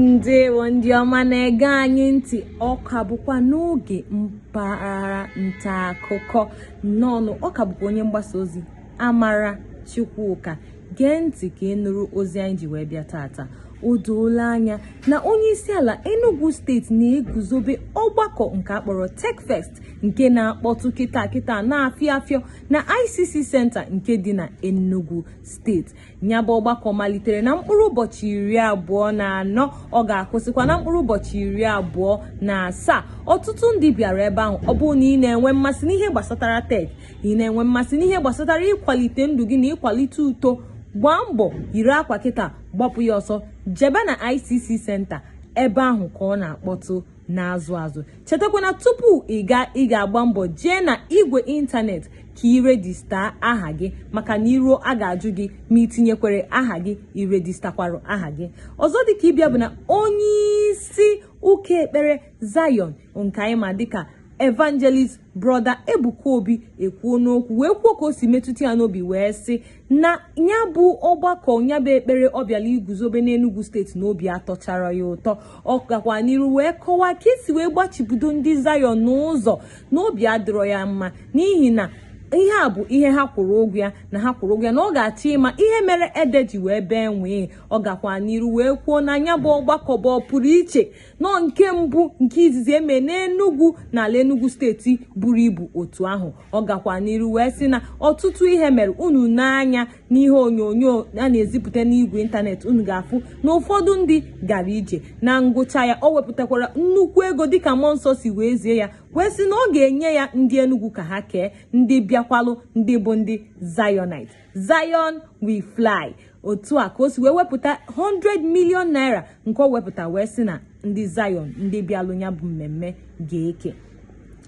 ndewo ndị ọma na-ege anyị ntị ọ ka bụkwa n'oge mpaghara nta akụkọ nnọọ ọ ka bụkwa onye mgbasa ozi amara chukwuka gee ntị ka ị nụrụ ozi anyị ji wee bịa taata o doola anya na onye isi ala Enugu steeti na-eguzobe ọgbakọ nke a kpọrọ Techfest nke na-akpọtụ kịta kịta na-afịọ afịọ na ICC Center nke dị na Enugu steeti nya bụ ọgbakọ malitere na mkpụrụ ụbọchị iri abụọ na anọ ọ ga-akwụsịkwa na mkpụrụ ụbọchị iri abụọ na asaa ọtụtụ ndị bịara ebe ahụ ọ bụrụ na ị na-enwe mmasị n'ihe gbasatara tech ị na-enwe mmasị n'ihe gbasatara ịkwalite ndụ gị na ịkwalite uto gbaa mbọ yiri akwa kịta gbapụ ya ọsọ jebe na ICC Center ebe ahụ ka ọ na-akpọtụ na-azụ azụ chetakwa na tupu ị gaa ị ga-agba mbọ jee n'igwe ịntanetị ka ị rejista aha gị maka na i ruo a ga-ajụ gị ma i tinyekwere aha gị i rejistakwara aha gị ọzọ dịka ibe ya bụ na onye isi ụka ekpere Zion nke anyị ma dịka evangelist brọda Ebuka Obi ekwuona okwu wee kwuo ka o si metụta ya n'obi wee sị na ya bụ ọgbakọ ya bụ ekpere ọ bịala iguzobe n'Enugu steeti na obi atọcharọ ya ụtọ ọ gakwa n'iru wee kọwaa ka e si wee gbachibido ndị Zion n'ụzọ na obi adịrọ ya mma n'ihi na ihe a bụ ihe ha kwụrụ ụgwọ ya na ha kwụrụ ụgwọ ya na ọ ga-achọ ịma ihe mere ede ji wee bee nwịị ọ gakwa n'iru wee kwuo na nya bụ ọgbakọ bụ ọ pụrụ iche na ọ nke mbụ nke izizi eme n'enugwu n'ala enugwu steeti buru ibu otu ahụ ọ gakwa n'iru wee sị na ọtụtụ ihe mere unu nee anya n'ihe onyonyo a na-ezipụta n'igwe ịntanetị unu ga-afụ na ụfọdụ ndị gara ije na ngwụcha ya o wepụtakwara nnukwu ego dịka mmụọ nsọ si wee zie ya wee sị na ọ ga-enye ya ndị enugwu ka ha kee ndị bịakwalụ ndị bụ ndị Zionite Zion we fly otu a ka o si wee wepụta 100 million naira nke o wepụta wee sị na ndị Zion ndị bịalụ ya bụ mmemme ga-eke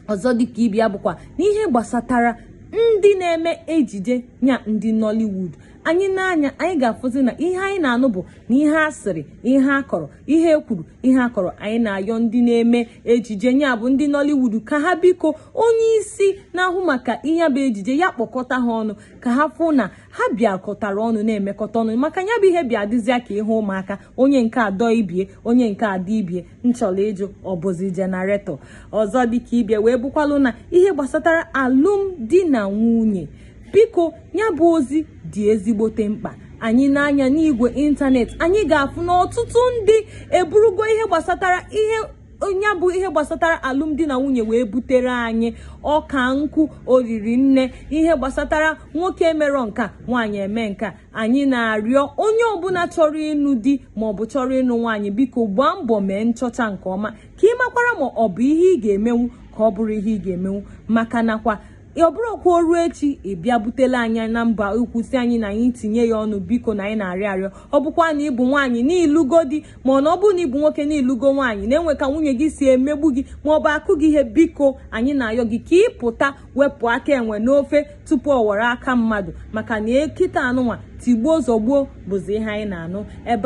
ọzọ dịka ibe ya bụkwa n'ihe gbasatara ndị na-eme ejije nya ndị Nollywood anyị nee anya anyị ga-afụzi na ihe anyị na-anụ bụ na ihe a sịrị ihe a kọrọ ihe e kwuru ihe a kọrọ anyị na-ayọ ndị na-eme ejije nya bụ ndị Nollywood ka ha biko onye isi na-ahụ maka ihe bụ ejije ya kpọkọta ha ọnụ ka ha fụ na ha bịakọtara ọnụ na-emekọta ọnụ maka ya bụ ihe bịa dịzịa ka ihe ụmụaka onye nke a dọọ ibie onye nke a dọọ ibie m chọrọ ịjụ ọ bụzi generator ọzọ dịka ibie wee bụkwalụ n'ihe gbasatara alụmdi na nwunye biko ya bụ ozi dị ezigbote mkpa anyị nee anya n'igwe ịntanetị anyị ga-afụ na ọtụtụ ndị eburugo ihe gbasatara ihe onye bụ ihe gbasatara alụmdi na nwunye wee butere anyị ọka nkụ oriri nne ihe gbasatara nwoke emerọ nka nwaanyị eme nka anyị na-arịọ onye ọbụna chọrọ ịnụ di maọbụ chọrọ ịnụ nwaanyị biko gbaa mbọ mee nchọcha nke ọma ka ị makwara ma ọ bụ ihe ị ga-emenwu ka ọ bụrọ ihe ị ga-emenwu maka nakwa ọ bụrụkwa o ruo echi ị bịa butele anyị na mba ikwu sị anyị na anyị tinye ya ọnụ biko na anyị na-arịọ arịọ ọ bụkwa na ị bụ nwaanyị na ị lụgo di ma na ọ bụ na ị bụ nwoke na ị lụgo nwaanyị na e nwe ka nwunye gị si emegbu gị ma ọ bụ akụ gị ihe biko anyị na-ayọ gị ka ị pụta wepụ aka enwe n'ofe tupu ọ ghọrọ aka mmadụ maka na ekita anụnwa tigbuo zọgbuo bụzi ihe anyị na-anụ ebe